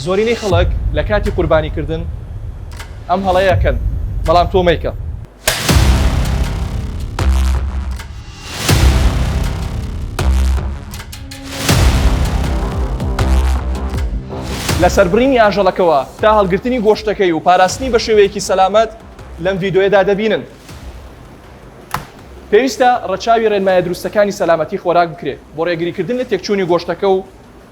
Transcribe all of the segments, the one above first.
زۆرینەی خەڵک لە کاتی قوربانیکردن ئەم هەڵەیەکەن بەڵام تۆ مەیکە لە سەربڕینی ئاژەڵەکەەوە تا هەڵگرتنی گۆشتەکەی و پاراستنی بە شێوەیەکی سەلامەت لەم ڤیددیوەدا دەبینن پێویستە ڕەچاوی ڕێنمایە دروستەکانی سەلامەتی خۆراک بکرێت بۆ ڕێگریکردن لە تێکچوونی گۆشتەکە و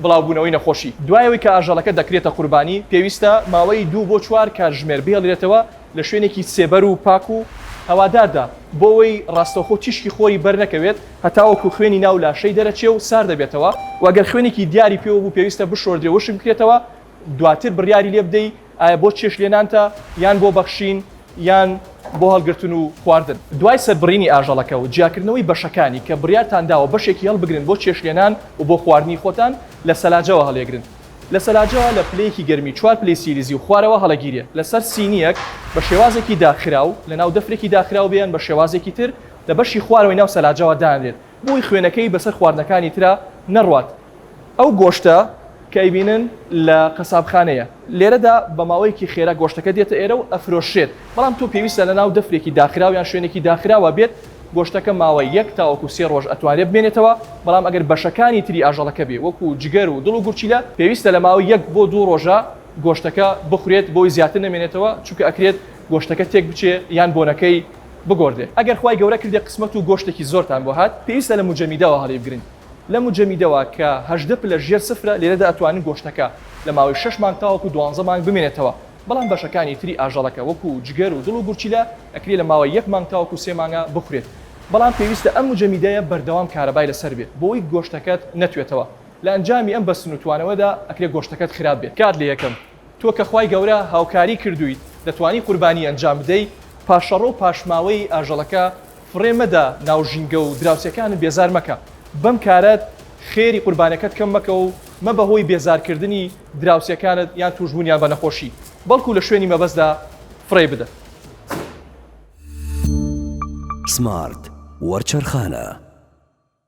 بڵاوبوونەوەی نەخۆشی. دوای ئەوەی کە ئاژەڵەکە دەکرێتە قوربانی، پێویستە ماوەی دوو بۆ چوار کاتژمێر بهێڵدرێتەوە لە شوێنێکی سێبەر و پاک و هەواداردا بۆ ئەوەی ڕاستەوخۆ تیشکی خۆری بەرنەکەوێت هەتاوەکو خوێنی ناو لاشەی دەرەچێ و ساردەبێتەوە و گەر خوێنێکی دیاری پێوە بوو پێویستە بشۆردرێ و وشک بکرێتەوە دواتر بڕیاری لێ بدەی ئایا بۆ چێشت لێنانتە یان بۆ بەخشین یان بۆ هەڵگرتن و خواردن. دوای سەربڕینی ئاژەڵەکە و جیاکردنەوەی بەشەکانی کە بڕیارتان داوە بەشێکی هەڵبگرن بۆ چێشت لێنان و بۆ خواردنی خۆتان لە سەلاجەوە هەڵیەگرن لە سەلاجەوە لە پلەیەکی گەرمی چوار پلەی سیلیزی و خوارەوە هەڵەگیرێ لەسەر سینیەک بە شێوازێکی داخراو لەناو دەفرێکی داخراو بێ یان بە شێوازێکی تر لە بەشی خوارەوەی ناو سەلاجەوە دانرێت بۆی خوێنەکەی بەسەر خواردنەکانی ترا نەڕوات ئەو گۆشتە کە ئەیبینن لە قەسابخانەیە لێرەدا بە ماوەیەکی خێرا گۆشتەکە دێتە ئێرە و ئەفرۆشرێت بەڵام تۆ پێویستە لە ناو دەفرێکی داخراو یان شوێنێکی داخراوە بێت گۆشتەکە ماوەی یەک تاوەکو سێ ڕۆژ ئەتوانرێت بمێنێتەوە بەڵام ئەگەر بەشەکانی تری ئاژەڵەکە بێ وەکو جگەر و دڵ و گورچیلە پێویستە لە ماوەی یەک بۆ دوو ڕۆژە گۆشتەکە بخورێت بۆی زیاتر نەمێنێتەوە چونکە ئەکرێت گۆشتەکە تێک بچێ یان بۆنەکەی بگۆردێ ئەگەر خوای گەورە کردێ قسمەت و گۆشتێکی زۆرتان بۆ هات پێویستە لە مجەمیدەوە هەڵیبگرن لە مجەمیدەوە کە هەژدە پلە ژێر سفرە لێرەدا ئەتوانن گۆشتەکە لە ماوەی شەش مانگ تاوەکو دوانزە مانگ بمێنێتەوە بەڵام بەشەکانی تری ئاژەڵەکە وەکو جگەر و دڵ و گورچیلە ئەکرێ لە ماوەی یەک مانگ تاوەکو سێ مانگا بخورێت بەڵام پێویستە ئەم مجەمیدەیە بەردەوام کارەبای لەسەر بێ بۆی گۆشتەکەت نەتوێتەوە لە ئەنجامی ئەم بەستن و توانەوەدا ئەکرێ گۆشتەکەت خراپ بێ کات لە یەکەم تۆ کە خوای گەورە هاوکاری کردوویت دەتوانی قوربانی ئەنجام بدەی، پاشەڕۆ و پاشماوەی ئاژەڵەکە فڕێ مەدە ناو ژینگە و دراوسێکانت بێزار مەکە بەم کارەت، خێری قوربانەکەت کەم مەکە و مەبە هۆی بێزارکردنی دراوسێکانت یان تووشبوونیان بە نەخۆشی، بەڵکو لە شوێنی مەبەستدا فڕێی بدە. سمارت وەرچەرخانە.